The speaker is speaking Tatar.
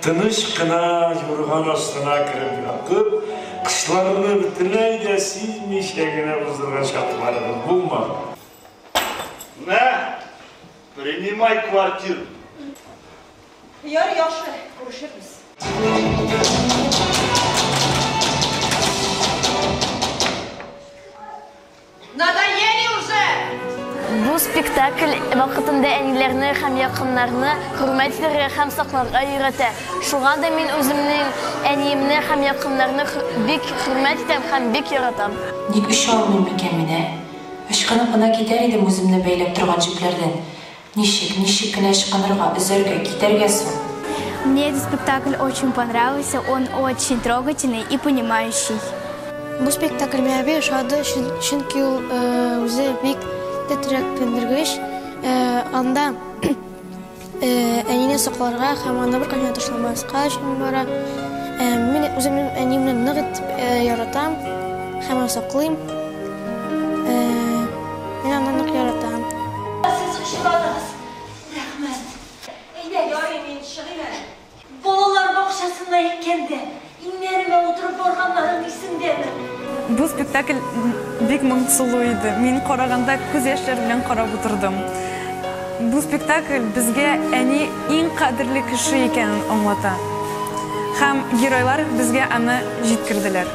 Тыныч кына юрган астына кереп ятып, кышларны бөтенләй дә сизмичә генә узырган чакларыбыз булмады. Мә, принимай квартир. Яр, яхшы, күрешербез. Надоели уже! Бу спектакль вакытында әниләрне һәм якыннарны хөрмәт итәргә һәм сакларга өйрәтә. Шуңа да мин үземнең әниемне һәм якыннарны бик хөрмәт итәм һәм бик яратам. Ник оча алмыйм микән мин, ә? Ычкынып кына китәр идем үземне бәйләп торган җепләрдән. Ничек, ничек кенә ычкынырга, өзәргә, китәргә соң? Мне этот спектакль очень понравился, он очень трогательный и понимающий. Бу спектакль миңа бик ошады, чөнки ул үзе бик тетрәк төндергеч. Анда әнине сакларга һәм аны беркайчан ташламаска өчен бара. Мин үземнең әниемне нык итеп яратам һәм саклыйм. Мин аны нык яратам. Сез өчен бераз рәхмәт. Әйдә, ярый, мин чыгыйм әле. Балалар бакчасында икәндә, иңнәремә утырып барганнарың исеңдәме? Бу спектакль бик моңсулы иде. Мин караганда күз яшьләр белән карап утырдым. Бу спектакль безгә әни иң кадерле кеше икәнен аңлата. Һәм геройлар безгә аны җиткерделәр.